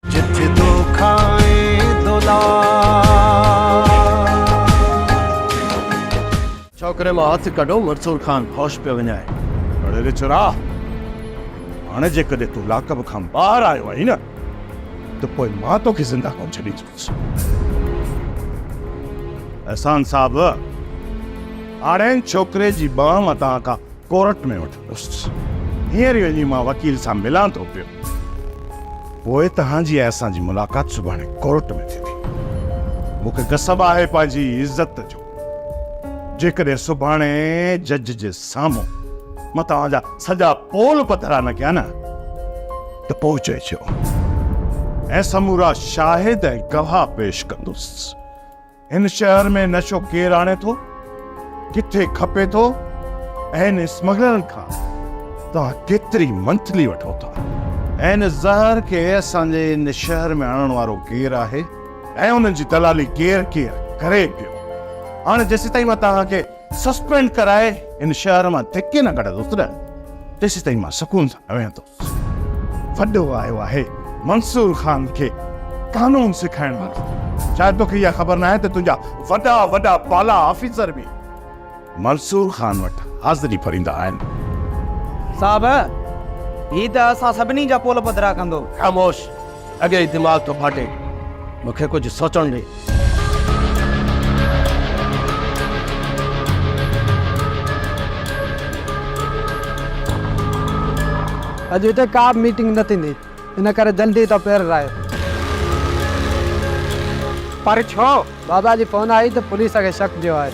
جت دو کائين دولا. ڇوڪري مان هٿ ڪڍو مرسول خان هوش پيو وڃائي. اڙي ويچورا! هاڻي جيڪڏهن تون لاڪب کان ٻاهر آيو آهين نه ته پوء مان توکي زنده ڪونه ڇڏيندس. احسان صاحب! هاڻي هن ڇوڪري جي ٻانهن متان ڪا ڪورٽ ۾ وٺو. بس هينئر ئي وڃي مان وڪيل سان ملان ٿو پيو. پوء توهان جي ۽ اسان جي ملاقات سڀاڻي ڪورٽ ۾ ٿيندي. مون کي غصب آهي پنهنجي عزت جو. جيڪڏهن سڀاڻي جج جي سامهون مان توهان جا سڄا پول پڌرا نه ڪيا نه ته پوء چئجو ۽ سمورا شاهد ۽ گواهه پيش ڪندس. هن شهر ۾ نشو ڪير آڻي ٿو، ڪٿي کپي ٿو ۽ هن اسمگلرن کان توهان ڪيتري منٿلي وٺو ٿا؟ هن زهر کي اسان جي هن شهر ۾ آڻڻ وارو ڪير آهي ۽ ان جي دلالي ڪير ڪير ڪري پيو؟ هاڻي جيسيتائين مان توهان کي سسپينڊ ڪرائي هن شهر مان ڌڪي نه ڪڍندس نه، تيسيتائين مان سڪون سان نه ويهندس. وڏو آيو آهي منصور خان کي قانون سکائڻ لاء. شايد توکي اها خبر ناهي ته تنهنجا وڏا وڏا بالا آفيسر به منصور خان وٽ حاضري ڀريندا آهن. صاحب، هي ته اسان سڀني جا پول پڌرا ڪندو. خاموش! اڳي ئي دماغ ٿو ڦاٽي، مون کي ڪجهه سوچڻ ڏي. اڄ هتي ڪا به ميٽنگ نه ٿيندي، ان ڪري جلدي ٿو پيرر آيو. پر ڇو؟ بابا جي فون آئي ته پوليس کي شڪ پيو آهي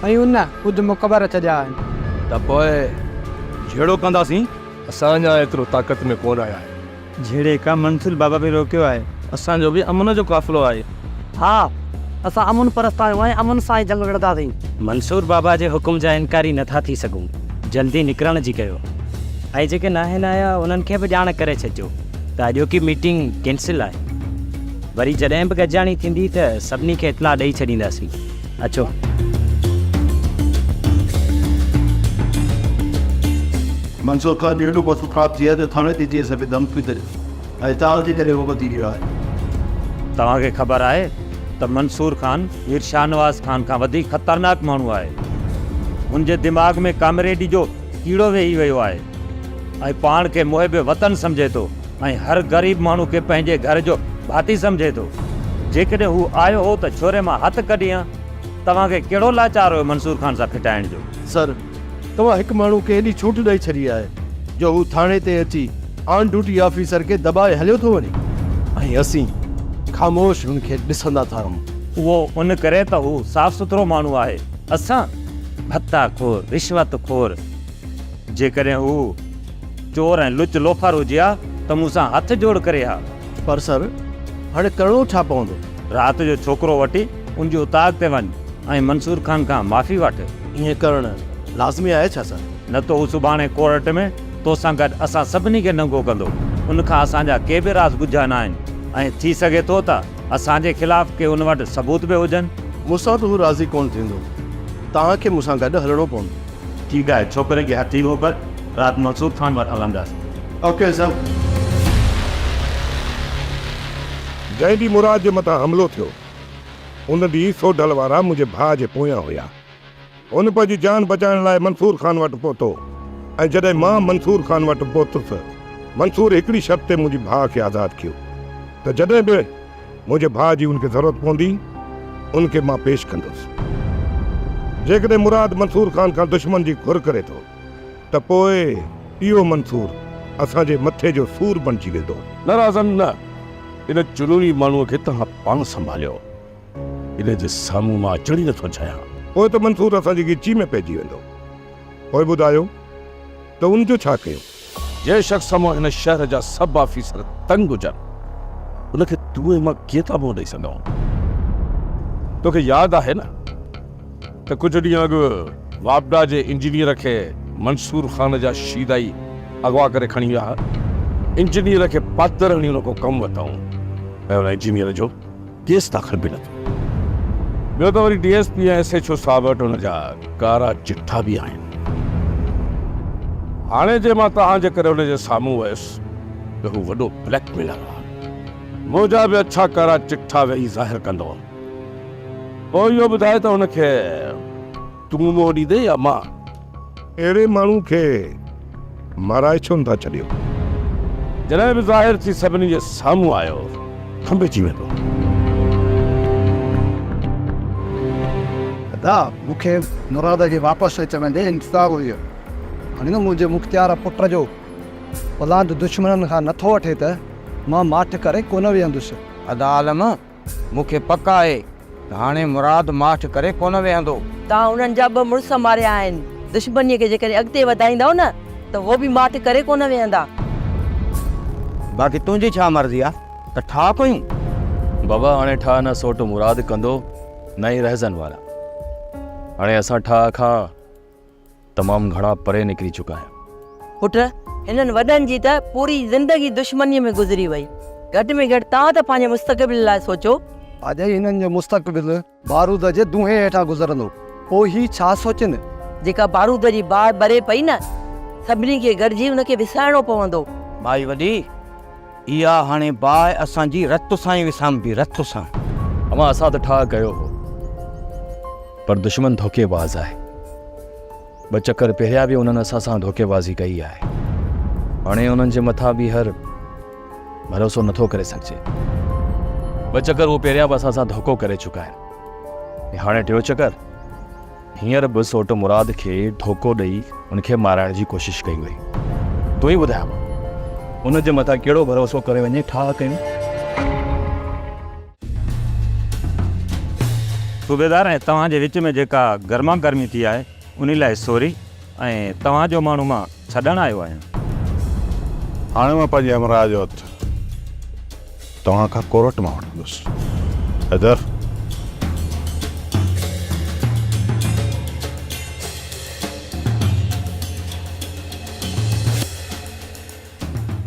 ۽ ان ڪجهه مقبر ڇڏيا آهن. ته پوء جهيڙو ڪنداسين. اسان اڃا ايترو طاقت ۾ ڪونه آيا آهيون. جهڙي ڪا منزل بابا به روڪيو آهي. اسان جو به امن جو قافلو آهي. ها اسان امن پرست آهيون ۽ امن سان ئي جنگ وڙهنداسين. منصور بابا جي حڪم جا انڪاري نه ٿا ٿي سگهون. جلدي نڪرڻ جي ڪيو. ۽ جيڪي ناهن آيا انهن کي به ڄاڻ ڪري ڇڏجو ته اڄوڪي ميٽنگ ڪينسل آهي. وري جڏهن به گڏجاڻي ٿيندي ته سڀني کي اطلاع ڏئي ڇڏينداسين. اچو. منصور خان جو ايڏو پسند خراب ٿي ويو آهي جو ٿاڻي تي ڪيس به دم ٿي ٿئي ۽ تان جي ڪري اهو ٻڌي ويو آهي. توهان کي خبر آهي ته منصور خان مير شاهنواز خان کان وڌيڪ خطرناڪ ماڻهو آهي. هن جي دماغ ۾ ڪامريڊي جو ڪيڙو ويهي ويو آهي. ۽ پاڻ کي محب وطن سمجهي ٿو ۽ هر غريب ماڻهو کي پنهنجي گهر جو ڀاتي سمجهي ٿو. جيڪڏهن هو آيو هو ته ڇوري مان هٿ ڪڍي هان، توهان کي ڪهڙو لاچار هيو منصور خان سان ڦٽائڻ جو؟ سر، توهان هڪ ماڻهو کي ايڏي ڇوٽ ڏئي ڇڏي آهي جو هو ٿاڻي تي اچي آن ڊيوٽي آفيسر کي دٻائي هليو ٿو وڃي ۽ اسين خاموش هن کي ڏسندا ٿا رهون. اهو ان ڪري ته هو صاف سٿرو ماڻهو آهي. اسان ڀتا خور، رشوت خور، جيڪڏهن هو چور ۽ لچ لوفار هجي ها ته مون سان هٿ جوڙ ڪري ها. پر سر، هاڻي ڪرڻو ڇا پوندو؟ رات جو ڇوڪرو وٺي ان جي اتاگ تي وڃ ۽ منصور خان کان معافي وٺ. ائين ڪرڻ لازمي آهي ڇا سر؟ نه ته هو سڀاڻي ڪورٽ ۾ تو سان گڏ اسان سڀني کي ننگو ڪندو. ان کان اسان جا ڪي به راز ڳجها نه آهن ۽ ٿي سگهي ٿو ته اسان جي خلاف ڪي ان وٽ ثبوت به هجن. مون سان به هو راضي ڪونه ٿيندو. توهان کي مون سان گڏ هلڻو پوندو. ٺيڪ آهي ڇوڪري کي هٿي موڪل رات منصور خان وٽ هلندس. Okay sir. جنهن ڏينهن مراد جي مٿان حملو ٿيو ان ڏينهن سوڍل وارا منهنجي ڀاء جي پويان هيا. هن پنهنجي جان بچائڻ لاء منصور خان وٽ پهتو ۽ جڏهن مان منصور خان وٽ پهتس منصور هڪڙي شرط تي منهنجي ڀاء کي آزاد ڪيو ته جڏهن به منهنجي ڀاء جي ان کي ضرورت پوندي، ان کي مان پيش ڪندس. جيڪڏهن مراد منصور خان کان دشمن جي گهر ڪري ٿو ته پوء اهو منصور اسان جي مٿي جو سور بڻجي ويندو. نه رازن نه! ان چنوري ماڻهوء کي توهان پاڻ سنڀاليو. ان جي سامهون مان اچڻ ئي نٿو چاهيان. پوء ته منصور اسان جي ڳچي ۾ پئجي ويندو. پوء ٻڌايو ته ان جو ڇا ڪيون؟ جنهن شخص کان مان هن شهر جا سڀ آفيسر تنگ هجن، ان کي تون ۽ مان ڪيئن ٿا منهن ڏئي سگهون؟ توکي ياد آهي نه ته ڪجهه ڏينهن اڳ واپڊا جي انجنيئر کي منصور خان جا شيدائي اغوا ڪري کڻي ويا ها. انجنيئر کي پاتر هڻي ان کان ڪم ورتائون ۽ ان انجنيئر جو. ڪيس داخل به نه ٿيو. ٻيو ته وري D S P ۽ S H O صاحب وٽ ان جا ڪارا چٺا به آهن. هاڻي جي مان توهان جي ڪري ان جي سامهون ويس ته هو وڏو بليڪ ميلر آهي. منهنجا به اڇا ڪارا چٺا ويهي ظاهر ڪندو. پوء اهو ٻڌاء ته هن کي. تون منهن ڏيندين يا مان؟ اهڙي ماڻهو کي مارائي ڇو نه ٿا ڇڏيو؟ جڏهن به ظاهر ٿي سڀني جي سامهون آيو، کنڀي ٿي ويندو. ادا مون کي مراد جي واپس اچڻ جو انتظار هيو. هاڻي نه منهنجي مختيار پٽ جو اولاد دشمنن کان نه ٿو وٺي ته مان ماٺ ڪري ڪونه ويهندس. ادا عالم! مون کي پڪ آهي ته هاڻي مراد ماٺ ڪري ڪونه ويهندو. توهان انهن جا ٻه مڙس ماريا آهن. دشمنيء کي جيڪڏهن اڳتي وڌائيندؤ نه ته هو به ماٺ ڪري ڪونه ويهندا. باقي تنهنجي ڇا مرضي آهي ته ٺاهه ڪيون؟ بابا هاڻي ٺاهه نه سوٽ مراد ڪندو نه ئي رهزن وارا. هاڻي اسان ٺاهه کان. تمام گهڻا پري نڪري چڪا آهن. پٽ! هنن وڏن جي ته پوري زندگي دشمنيء ۾ گذري وئي. گهٽ ۾ گهٽ توهان ته پنهنجي مستقبل لاء سوچو. اڄ ئي هنن جو مستقبل بارود جي دونهين هيٺان گذرندو، پوء هي ڇا سوچين؟ جيڪا بارود جي باهه ٻري پئي نه، سڀني کي گڏجي ان کي وسائڻو پوندو. مائي وڏي! اها هاڻي باهه اسان جي رت سان ئي وسامبي، رت سان. اوهان اسان تي ٺاهه ڪيو هو، پر دشمن ڌوڪي باز آهي. ٻه چڪر پهريا به انهن اسان سان ڌوڪي بازي ڪئي آهي. هاڻي انهن جي مٿان ٻيهر ڀروسو نه ٿو ڪري سگهجي. ٻه چڪر هو پهريا به اسان سان ڌوڪو ڪري چڪا آهن ۽ هاڻي ٽيون چڪر؟ هينئر به سوٽ مراد کي ڌوڪو ڏئي ان کي مارائڻ جي ڪوشش ڪئي وئي. تون ئي ٻڌاء مان ان جي مٿان ڪهڙو ڀروسو ڪري وڃي ٺاهه ڪيون. صوبيدار ۽ توهان جي وچ ۾ جيڪا گرما گرمي ٿي آهي انهي لاء سوري. ۽ توهان جو ماڻهو مان ڇڏڻ آيو آهيان. هاڻي مان پنهنجي همراهه جو هٿ توهان کان ڪورٽ مان وٺندس. حيدر!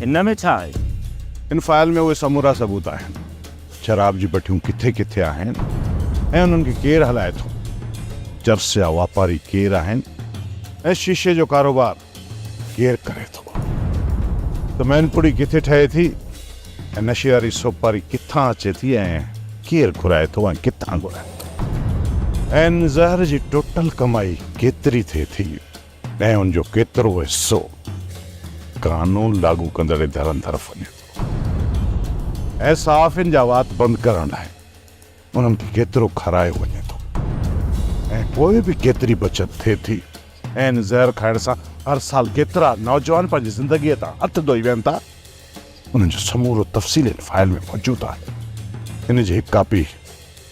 هن ۾ ڇا آهي؟ هن فائل ۾ اهي سمورا ثبوت آهن. شراب جي بٺيون ڪٿي ڪٿي آهن ۽ انهن کي ڪير هلائي ٿو. چرس جا واپاري ڪير آهن ۽ شيشي جو ڪاروبار ڪير ڪري ٿو ته مين پوڙي ڪٿي ٺهي ٿي ۽ نشي واري سوپاري ڪٿان اچي ٿي ۽ ڪير گهرائي ٿو ۽ ڪٿان گهرائي ٿو ۽ زهر جي ٽوٽل ڪمائي ڪيتري ٿئي ٿي. ۽ ان جو ڪيترو حصو قانون لاڳو ڪندڙ ادارن طرف وڃي ٿو ۽ صحافين جا وات بند ڪرڻ لاء انهن کي ڪيترو کارايو وڃي ٿو ۽ پوء به ڪيتري بچت ٿئي ٿي ۽ ان زهر کائڻ سان هر سال ڪيترا نوجوان پنهنجي زندگيء تان هٿ ڌوئي ويهن ٿا انهن جو سمورو تفصيل هن فائل ۾ موجود آهي ان جي هڪ ڪاپي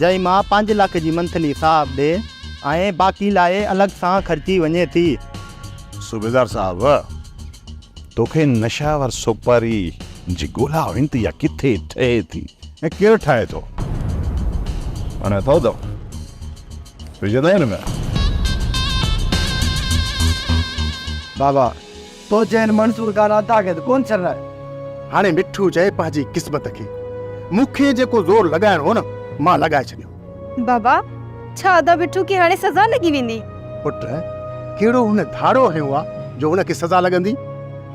جنهن مان پنج لک جي منٿلي صاحب ڏي ۽ باقي لاء الڳ سان خرچي وڃي ٿي. صوبيدار صاحب! توکي نشاور سوپاري جي ڳولا هئين ته اها ڪٿي ٺهي ٿي ۽ ڪير ٺاهي ٿو؟ هاڻي اٿئو ته وجهندئين نه. بابا! تو چين منظور ڪانا تاخت ڪون ڇرائي. هاڻي مٺو چئي پنهنجي قسمت کي. مون کي جيڪو زور لڳائڻو هو نه مان لڳائي ڇڏيو. بابا، ڇا ادا مٺو کي هاڻي سزا لڳي ويندي؟ پٽ، ڪهڙو هن ڌاڙو هنيو آ جو هن کي سزا لڳندي؟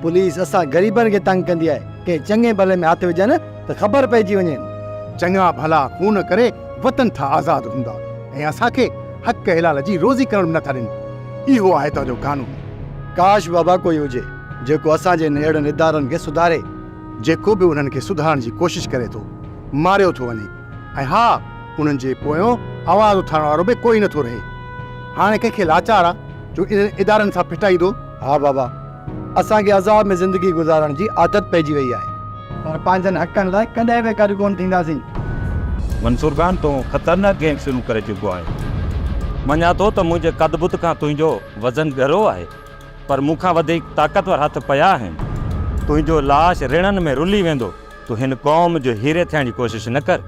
پوليس اسان غريبن کي تنگ ڪندي آهي، ڪنهن چڱي ڀلي ۾ هٿ وجهن ته خبر پئجي وڃين. چڱا ڀلا خون ڪري وطن ٿا آزاد هوندا ۽ اسان کي حق حلال جي روزي ڪرڻ به نه ٿا ڏين. اهو آهي تنهن جو قانون. ڪاش بابا ڪوئي هجي جيڪو اسان جي هن اهڙن ادارن کي سڌاري. جيڪو به انهن کي سڌارڻ جي ڪوشش ڪري ٿو ماريو ٿو وڃي ۽ ها انهن جي پويون آواز اٿارڻ وارو به ڪوئي نه ٿو رهي. هاڻي ڪنهن کي لاچار آ جو انهن ادارن سان ڦٽائيندو. ها بابا اسان کي عذاب ۾ زندگي گذارڻ جي عادت پئجي وئي آهي. پر پنهنجن حقن لاء ڪڏهن به گڏ ڪونه ٿينداسين. منصور خان تون خطرناڪ گيم شروع ڪري چڪو آهين. مڃان ٿو ته منهنجي قد بت کان تنهنجو وزن ڳرو آهي پر مون کان وڌيڪ طاقتور هٿ پيا آهن. تنهنجو لاش رڻن ۾ رلي ويندو. تون هن قوم جو هيري ٿيڻ جي ڪوشش نه ڪر.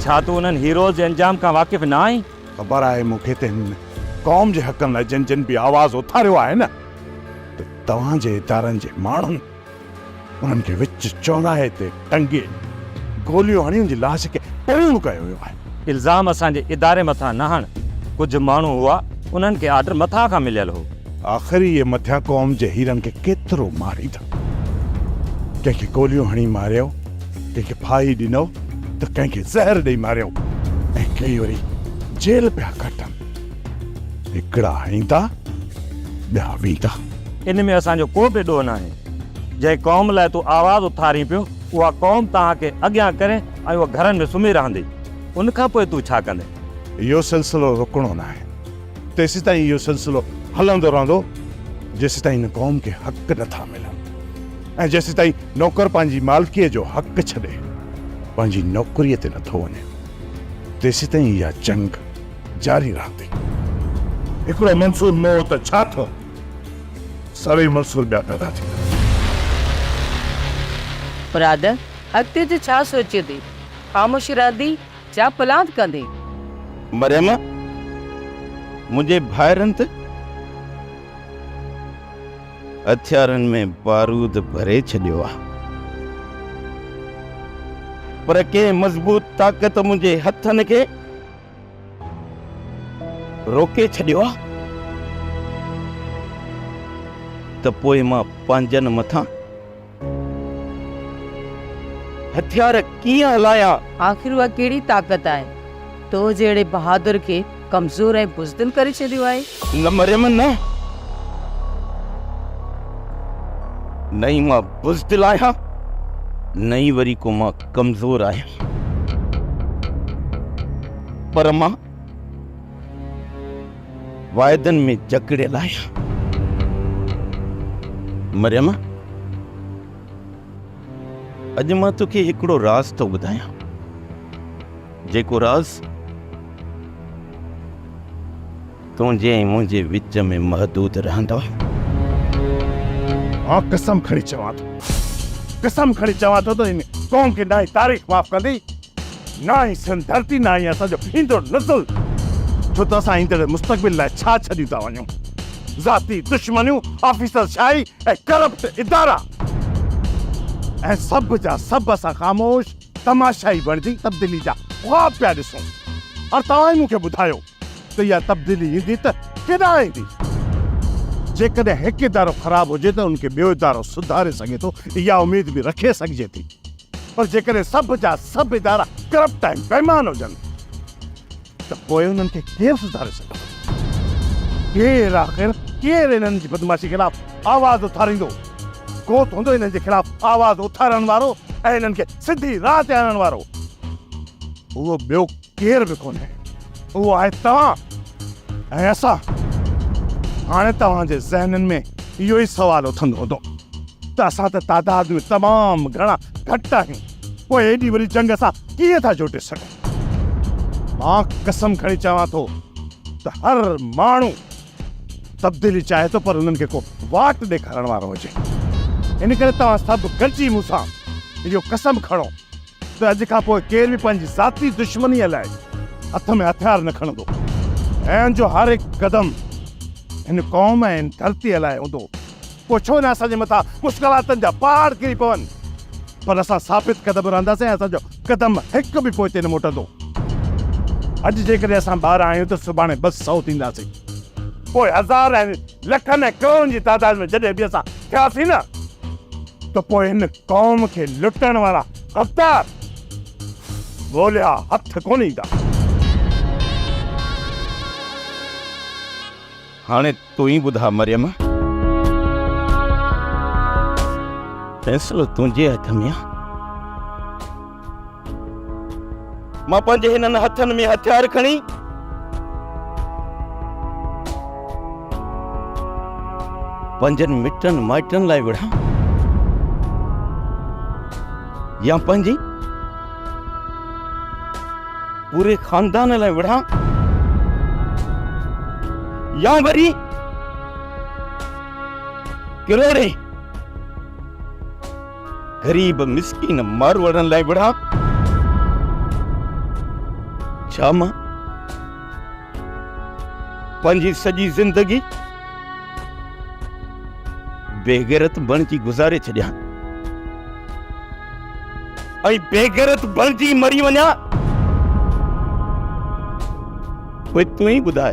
ڇا تون انهن هيروز جي انجام کان واقف نه آهين؟ خبر آهي مون کي ته هن قوم جي حقن لاء جن جن به آواز اٿاريو آهي نه ته توهان جي ادارن جي ماڻهن انهن کي وچ چوراهي تي ٽنگي گوليون هڻي ان جي لاش کي پروڙ ڪيو ويو آهي. الزام اسان جي اداري مٿان نه هڻ، ڪجهه ماڻهو هئا انهن کي آرڊر مٿان کان مليل هو. آخر اهي مٿيان قوم جي هيرن کي ڪيترو ماريندا، ڪنهن کي گوليون هڻي ماريو، ڪنهن کي ڦاهي ڏنو ته ڪنهن کي زهر ڏئي ماريو ۽ ڪيئي وري جيل پيا ڪٽن. هڪڙا ايندا، ٻيا ويندا. ان ۾ اسان جو ڪو به ڏوهه ناهي. جنهن قوم لاء تون آواز اٿارين پيو، اها قوم توهان کي اڳيان ڪري ۽ اها گهرن ۾ سمهي رهندي. ان کان پوء تون ڇا ڪندين؟ اهو سلسلو رڪڻو ناهي. تيسيتائين اهو سلسلو هلندو رهندو، جيسيتائين هن قوم کي حق نٿا ملن. ۽ جيسيتائين نوڪر پنهنجي مالڪيء جو حق ڇڏي پنهنجي نوڪريء تي نٿو وڃي، تيسيتائين اها جنگ جاري رهندي. هڪڙو منصور مئو ته ڇا ٿيو، سوين منصور ٻيا پيدا ٿيندا. مراد، اڳتي جو ڇا سوچيو ٿي؟ خاموشي رهندي يا پلان ڪندين؟ مريم، منهنجي ڀائرن ته. هٿيارن ۾ بارود ڀري ڇڏيو آ. پر ڪنهن مضبوط طاقت منهنجي هٿن کي روڪي ڇڏيو آ ته پوء مان پنهنجن مٿان هٿيار ڪيئن هلايا؟ آخر اها ڪهڙي طاقت آهي، تو جهڙي بهادر کي ڪمزور ۽ بزدل ڪري ڇڏيو آهي؟ نه مريم نه. نه ئي مان بزدل آهيان، نه ئي وري ڪو مان ڪمزور آهيان. پر مان واعدن ۾ جڪڙيل آهيان. مريم، اڄ مان توکي هڪڙو راز ٿو ٻڌايان، جيڪو راز تنهنجي ۽ منهنجي وچ ۾ محدود رهندو. مان قسم کڻي چوان ٿو، قسم کڻي چوان ٿو ته هن قوم کي نه هي تاريخ معاف ڪندي. نه هي سنڌ ڌرتي نه هي اسان جو ايندڙ نسل ڇو ته اسان ايندڙ مستقبل لاء ڇا ڇڏيون ٿا وڃون ذاتي دشمنيون آفيسر شاهي ۽ ڪرپٽ ادارا ۽ سڀ جا سڀ اسان خاموش تماشائي بڻجي تبديلي جا خواب پيا ڏسون ۽ توهان ئي مون کي ٻڌايو ته اها تبديلي ايندي ته ڪيڏانهن ايندي جيڪڏهن هڪ ادارو خراب هجي ته ان کي ٻيو ادارو سڌاري سگهي ٿو اها اميد به رکي سگهجي ٿي. پر جيڪڏهن سڀ جا سڀ ادارا ڪرپٽ ۽ بيمان هجن ته پوء انهن کي ڪير سڌاري سگهندو؟ ڪير آخر ڪير انهن جي بدمعاشي خلاف آواز اٿاريندو؟ ڪو ته هوندو انهن جي خلاف آواز اٿارڻ وارو ۽ انهن کي سڌي راهه تي آڻڻ وارو. اهو ٻيو ڪير به ڪونهي، اهو آهي توهان ۽ اسان. هاڻي توهان جي ذهنن ۾ اهو ئي سوال اٿندو هوندو ته اسان ته تعداد ۾ تمام گهڻا گهٽ آهيون، پوء ايڏي وڏي جنگ اسان ڪيئن ٿا جوٽي سگهون؟ مان قسم کڻي چوان ٿو ته هر ماڻهو تبديلي چاهي ٿو پر انهن کي ڪو واٽ ڏيکارڻ وارو هجي. ان ڪري توهان سڀ گڏجي مون سان اهو قسم کڻو ته اڄ کان پوء ڪير به پنهنجي ذاتي دشمنيء لاء هٿ ۾ هٿيار نه کڻندو ۽ ان جو هر هڪ قدم هن قوم ۽ هن ڌرتيء لاء هوندو. پوء ڇو نه اسان جي مٿان مشڪلاتن جا پهاڙ ڪري پون، پر اسان ثابت قدم رهنداسين ۽ اسان جو قدم هڪ به پوئتي نه موٽندو. اڄ جيڪڏهن اسان ٻارهن آهيون ته سڀاڻي ٻه سؤ ٿينداسين، پوء هزار ۽ لکن ۽ ڪروڙن جي تعداد ۾ جڏهن به اسان ٿياسين نه ته پوء هن قوم کي لٽڻ وارا غدار ڳوليا هٿ ڪونه ايندا. هاڻي تون ئي ٻڌاء مريم. فيصلو تنهنجي هٿ ۾ آ. مان پنهنجي هنن هٿن ۾ هٿيار کڻي پنهنجن مٽن مائٽن لاء وڙهان يا پنهنجي پوري خاندان لاء وڙهان يا وري ڪروڙي غريب مسڪين ماروئڙن لاء وڙهان ڇا مان پنهنجي سڄي زندگي بيغيرت بڻجي گذاري ڇڏيان ۽ بيغيرت بڻجي مري وڃان پوء تون ئي ٻڌاء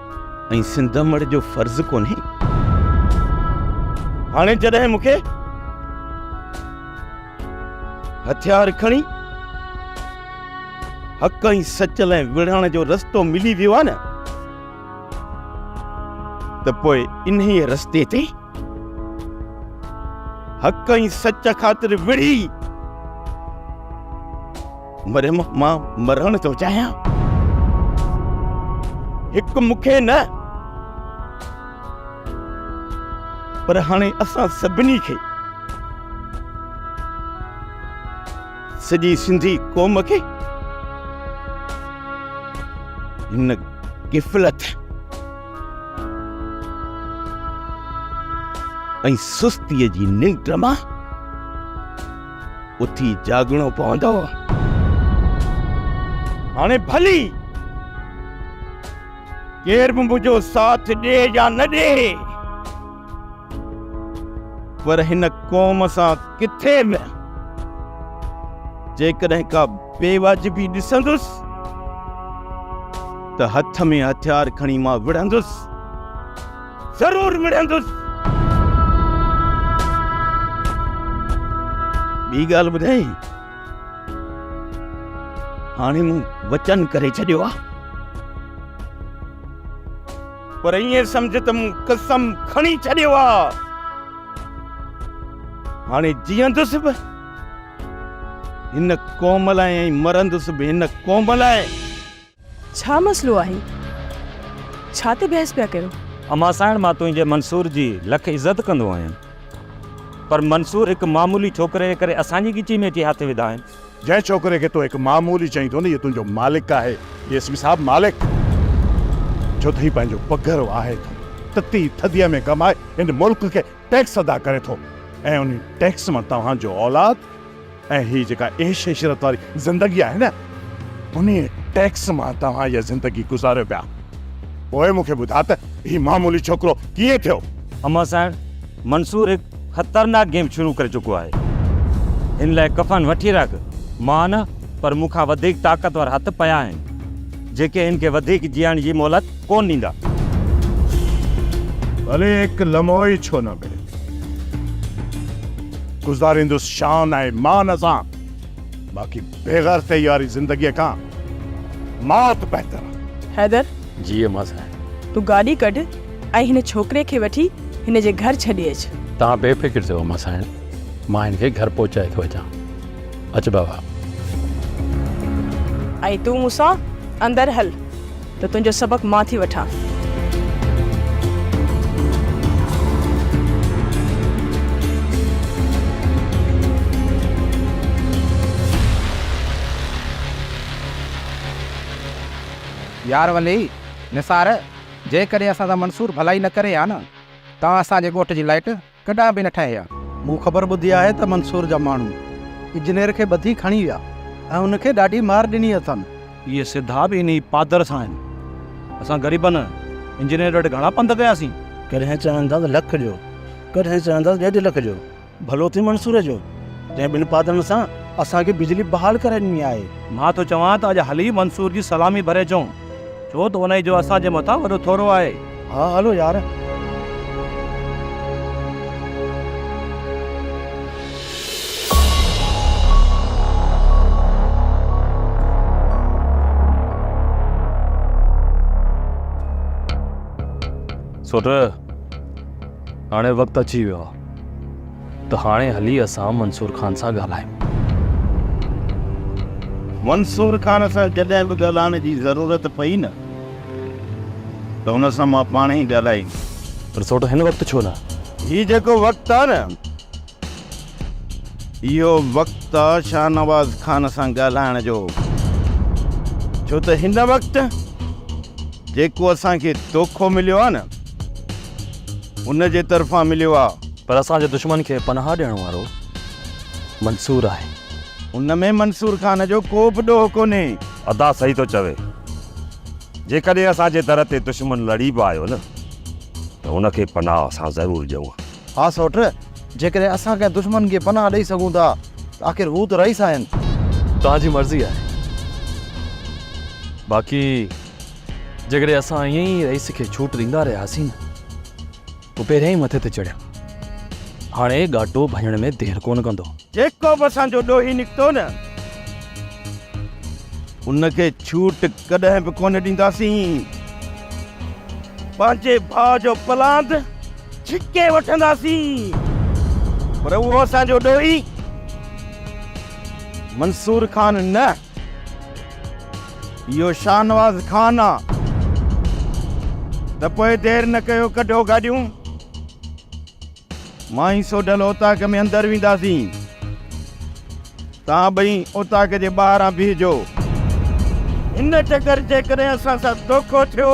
۽ سنڌ امڙ جو فرض ڪونهي هاڻي جڏهن مون کي هٿيار کڻي حق ۽ سچ لاء وڙهڻ جو رستو ملي ويو آهي نه ته پوء انهي رستي تي حق ۽ سچ خاطر وڙهي مريم مان مرڻ ٿو چاهيان هڪ مون کي نه پر هاڻي اسان سڀني کي سڄي سنڌي قوم کي هن غفلت ۽ سستيء جي ننڊ مان اٿي جاڳڻو پوندو. هاڻي ڀلي ڪير به منهنجو ساٿ ڏي يا نه ڏي، پر هن قوم سان ڪٿي به جيڪڏهن ڪا بي واجبي ڏسندس ته هٿ ۾ هٿيار کڻي مان وڙهندس. ضرور وڙهندس. ٻي ڳالهه ٻڌايئي، هاڻي مون وچن ڪري ڇڏيو آهي. پر ائين سمجهه ته مون قسم کڻي ڇڏيو آهي. هاڻي جيئندس به هن قوم لاء ۽ مرندس به هن قوم لاء. ڇا مسئلو آهي؟ ڇا تي بحث پيا ڪيو؟ امان سائڻ مان تنهنجي منصور جي لک عزت ڪندو آهيان پر منصور هڪ معمولي ڇوڪري جي ڪري اسان جي ڳچي ۾ اچي هٿ وڌا آهن. جنهن ڇوڪري کي تو هڪ معمولي چئين ٿو نه اهو تنهنجو مالڪ آهي اي سي پي صاحب مالڪ ڇو ته هي پنهنجو پگهر واهي ٿو تتي ٿڌيء ۾ ڪمائي هن ملڪ کي ٽيڪس ادا ڪري ٿو ۽ انهي ٽيڪس مان توهان جو اولاد ۽ هي جيڪا عيش عشرت واري زندگي آهي نه، انهيء ٽيڪس مان توهان اها زندگي گذاريو پيا. پوء مون کي ٻڌاء ته هي معمولي ڇوڪرو ڪيئن ٿيو؟ امان سائڻ، منصور هڪ خطرناڪ گيم شروع ڪري چڪو آهي. هن لاء ڪفن وٺي رک. مان نه، پر مون کان وڌيڪ طاقتور هٿ پيا آهن، جيڪي هن کي وڌيڪ جيئڻ جي مهلت ڪونه ڏيندا. ڀلي هڪ لمحو ئي ڇو نه ملي. گذاريندس شان ۽ مان سان. باقي بيغرضي واري زندگيء کان مات بهتر آ. حيدر! جي اما سائين. تون گاڏي ڪڍ ۽ هن ڇوڪري کي وٺي هن جي گهر ڇڏي اچ. توهان بي فڪر ٿيو اما سائين. مان هن کي گهر پهچائي ٿو اچان. اچ بابا. ۽ تون مون سان اندر هل. ته تنهنجو سبق مان ٿي وٺان. يار ولي، نثار، جيڪڏهن اسان سان منصور ڀلائي نه ڪري ها نه، توهان اسان جي ڳوٺ جي لائٽ، ڪڏهن به نه ٺاهي ها. مون خبر ٻڌي آهي ته منصور جا ماڻهو اجنير کي ٻڌي کڻي ويا ۽ ان کي ڏاڍي مار ڏني اٿن. اهي سڌا به انهي پادر سان آهن. اسان غريبن انجنير وٽ گهڻا پنڌ ڪياسين. ڪڏهن چون ٿا ته لک جو، ڪڏهن چون ٿا ته ڏيڍ لک جو. ڀلو ٿئي منصور جو، جنهن ٻن پادرن سان اسان کي بجلي بحال ڪرائي ڏني آهي. مان ٿو چوان ته اڄ هلي منصور جي سلامي ڀري اچون. ڇو ته انهيء جو اسان جي مٿان وڏو ٿورو آهي. ها هلو يار. سوٽ، هاڻي وقت اچي ويو آهي. ته هاڻي هلي اسان منصور خان سان ڳالهايون. منصور خان سان جڏهن به ڳالهائڻ جي ضرورت پئي نه ته هن سان مان پاڻ ئي ڳالهائيندس. پر سوٽ هن وقت ڇو نه؟ هي جيڪو وقت آ نه اهو وقت آ شاهنواز خان سان ڳالهائڻ جو. ڇو ته هن وقت جيڪو اسان کي دوکو مليو آ نه. ان جي طرفان مليو آ. پر اسان جي دشمن کي پناهه ڏيڻ وارو منصور آهي. ان ۾ منصور خان جو ڪو به ڏوهه ڪونهي. ادا صحيح ٿو چوي. جيڪڏهن اسان جي در تي دشمن لڙي به آيو نه ته ان کي پناهه اسان ضرور ڏيون ها. ها سوٽ، جيڪڏهن اسان ڪنهن دشمن کي پناهه ڏئي سگهون ٿا ته آخر هو ته رئيس آهن. توهان جي مرضي آهي. باقي. جيڪڏهن اسان ائين ئي رئيس کي ڇوٽ ڏيندا رهياسين هو پهريان ئي مٿي تي چڙهيا هاڻي ڳاٽو ڀڃڻ ۾ دير ڪونه ڪندو. جيڪو به اسان جو ڏوهي نڪتو نه ان کي ڇوٽ ڪڏهن به ڪونه ڏينداسين. پنهنجي ڀاء جو پلاند ڇڪي وٺنداسين پر اهو اسان جو ڏوهي منصور خان نه. اهو شاهنواز خان آ ته پوء دير نه ڪيو ڪڍو گاڏيون مائين سوڍل اوطاق ۾ اندر وينداسين توهان ٻئي اوطاق جي ٻاهران بيهجو ان چڪر جيڪڏهن اسان سان دوکو ٿيو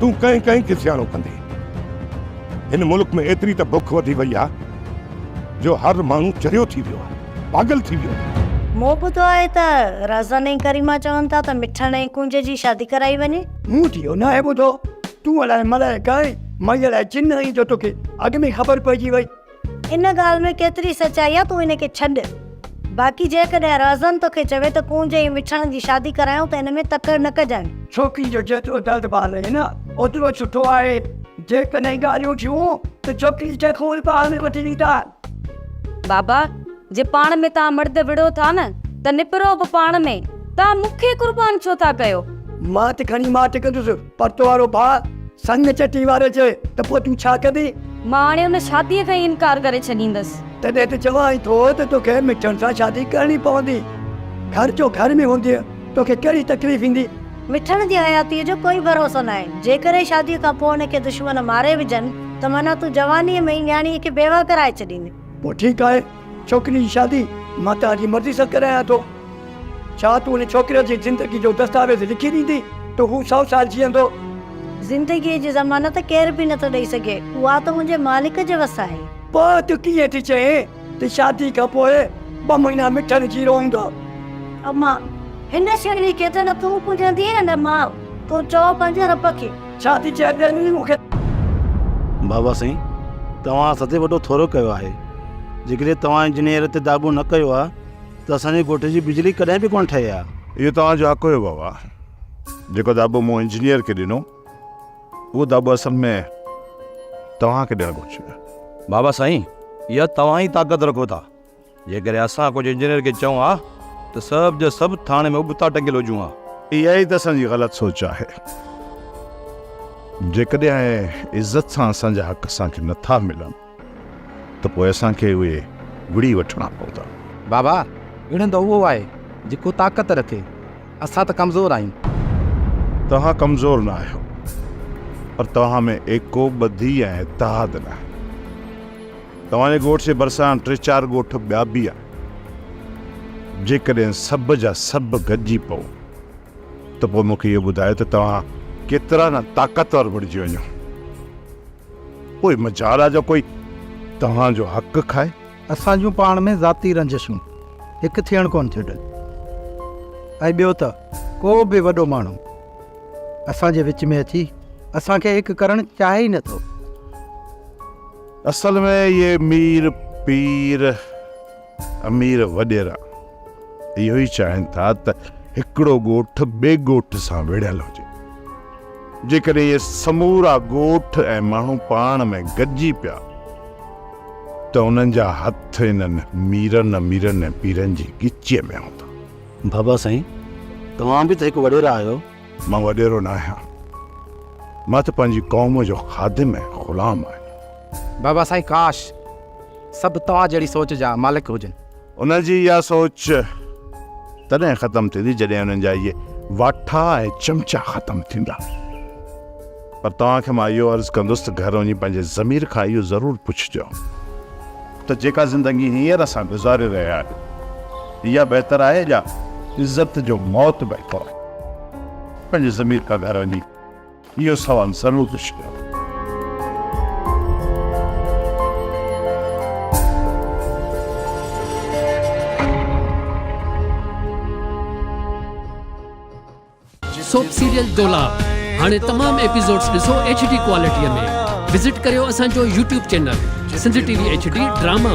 تون ڪنهن ڪنهن کي سياڻو ڪندي. هن ملڪ ۾ ايتري ته بک وڌي وئي آ جو هر ماڻهو چريو ٿي ويو آ، پاڳل ٿي ويو آ. مون ٻڌو آهي ته رهزن ۽ ڪريما چون ٿا ته مٺڻ ۽ ڪونج جي شادي ڪرائي وڃي. مون ته اهو ناهي ٻڌو. تون الاء ملائڪ آهين، مئي الاء جن آهين جو توکي اڳ ۾ خبر پئجي وئي. ان ڳالهه ۾ ڪيتري سچائي آ تون ان کي ڇڏ باقي جيڪڏهن رهزن توکي چوي ته ڪونج ۽ مٺڻ جي شادي ڪرايون ته ان ۾ تڪڙ نه ڪجانء. ڇوڪري جو جيترو درد ڀال آهي نه اوترو سٺو آهي جيڪڏهن ڳالهيون ٿيون ته ڇوڪري کي خون پاڻ ۾ وٺي ڏيندان. بابا جي پاڻ ۾ توهان مرد وڙهو ٿا نه ته نپرو به پاڻ ۾ توهان مون کي قربان ڇو ٿا ڪيو. مان ته کڻي ماٺ ڪندس پرتو وارو ڀاء سڱ چٽي واري چئي ته پوء تون ڇا ڪندين؟ مان هاڻي ان شاديء کان ئي انڪار ڪري ڇڏيندس. تڏهن ته چوانء ٿو ته توکي مٺڻ سان شادي ڪرڻي پوندي. گهر جو گهر ۾ هوندينء توکي ڪهڙي تڪليف ايندي؟ مٺڻ جي حياتيء جو ڪوئي ڀروسو ناهي. جيڪڏهن شاديء کان پوء هن کي دشمن ماري وجهن ته معنيٰ تون جوانيء ۾ ئي نياڻيء کي بيواهه ڪرائي ڇڏيندين. پوء ٺيڪ آهي. ڇوڪري جي شادي مان تنهنجي مرضي سان ڪرايان ٿو. ڇا تون ان ڇوڪري جي زندگي جو دستاويز لکي ڏيندي ته هو سؤ سال جيئندو؟ زندگيء جي ضمانت ڪير به نٿو ڏئي سگهي، اها ته منهنجي مالڪ جي وس آهي. پوء تون ڪيئن ٿي چئين ته شادي کان پوء ٻه مهينا مٺن جي روئيندو؟ امان، هن شهري کي ته نه تون پوڄيندينء نه مان. تون چئو پنهنجي رب کي. ڇا ٿي چئين ته انهي مون کي. بابا سائين توهان اسان تي وڏو ٿورو ڪيو آهي جيڪڏهن توهان انجنيئر تي داٻو نه ڪيو ها ته اسان جي ڳوٺ جي بجلي ڪڏهن به ڪونه ٺهي ها. اهو توهان جو حق هيو بابا جيڪو داٻو مون انجنيئر کي ڏنو اهو داٻو اصل ۾ توهان کي ڏيڻ گهرجي ها. بابا سائين اها توهان ئي طاقت رکو ٿا جيڪڏهن اسان ڪجهه انجنيئر کي چئون ها ته سڀ جا سڀ ٿاڻي ۾ ابتا ٽنگيل هجون ها. اها ئي ته اسان جي غلط سوچ آهي. جيڪڏهن عزت سان اسان جا حق اسان کي نه ٿا ملن ته پوء اسان کي اهي وڙهي وٺڻا پوندا. بابا وڙهندو اهو آهي جيڪو طاقت رکي. اسان ته ڪمزور آهيون. توهان ڪمزور نه آهيو پر توهان ۾ ايڪو ٻڌي ۽ اتحاد ناهي. توهان جي ڳوٺ جي ڀرسان ٽي چار ڳوٺ ٻيا به آهن. جيڪڏهن سڀ جا سڀ گڏجي پئو ته پوء مون کي اهو ٻڌايو ته توهان ڪيترا نه طاقتور بڻجي وڃو. پوء مجال آهي جو ڪوئي توهان جو حق کائي. اسان جون پاڻ ۾ ذاتي رنجشون هڪ ٿيڻ ڪونه ٿيون ڏين ۽ ٻيو ته ڪو به وڏو ماڻهو اسان جي وچ ۾ اچي اسان کي هڪ ڪرڻ چاهي ئي نه ٿو. اصل ۾ اهي مير، پير، امير وڏيرا اهو ئي چاهين ٿا ته هڪڙو ڳوٺ ٻئي ڳوٺ سان وڙهيل هجي. جيڪڏهن اهي سمورا ڳوٺ ۽ ماڻهو پاڻ ۾ گڏجي پيا ته انهن جا هٿ انهن ميرن، اميرن ۽ پيرن جي ڳچيء ۾ هوندا. بابا سائين توهان به ته هڪ وڏيرا آهيو. مان وڏيرو نه آهيان، مان ته پنهنجي قوم جو خادم ۽ غلام آهيان. بابا سائين ڪاش سڀ توهان جهڙي سوچ جا مالڪ هجن. انهن جي اها سوچ تڏهن ختم ٿيندي جڏهن انهن جا اهي واٺا ۽ چمچا ختم ٿيندا. پر توهان کي مان اهو عرض ڪندس ته گهر وڃي پنهنجي ضمير کان اهو ضرور پڇجو ته جيڪا زندگي هينئر اسان گذاري رهيا آهيون اها بهتر آهي يا عزت جو موت بهتر آهي؟ پنهنجي ضمير کان گهر وڃي اهو سوال ضرور پڇجو. سوپ سيريل ڊولا هاڻي تمام ايپيسوڊز ڏسو ايڇ ڊي ڪوالٽي ۾ وزٽ ڪريو اسان جو YouTube channel Sindh T V H D drama.